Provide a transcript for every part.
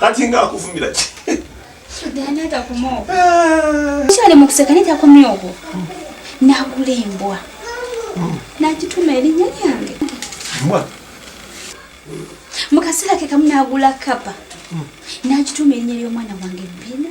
kati nga akuvumira ki kyali mukuseka naye takomye okwo nagula embwa nagituma erinnya lyange mu kaseera ke kamu nagula kapa nagituma erinnya ly'omwana wange bina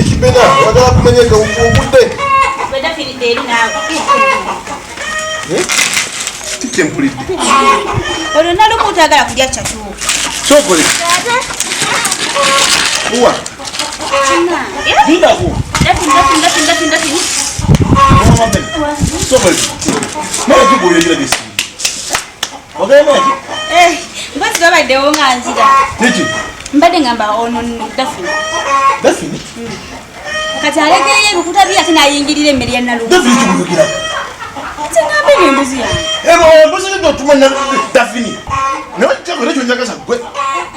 ekibena wagala kumanya nga ogudde tikyempulidde olwo nali omuntu agala kulya catu kyokola mbazi babaddewo nga nzira mbadde ngamba ono dafini dafini kati alekeyo ebikuta bye ate nayingirira emmere ya nalu tingambe nembuzi yange embuzi nidotuma dafini nawe kyakole kyonyagaza gwe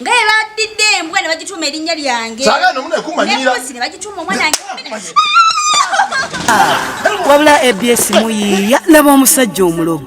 nga bwe baddidde embwa ne bagituuma erinnya lyange nebuzi ne bagituuma omwana wabula abs muyiiya laba omusajja omulogo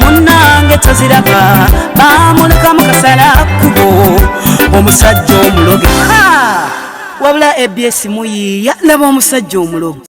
munange toziraba bamuleka mukasala kubo omusajja omuloge wabula abs muyiiya laba omusajja omuloge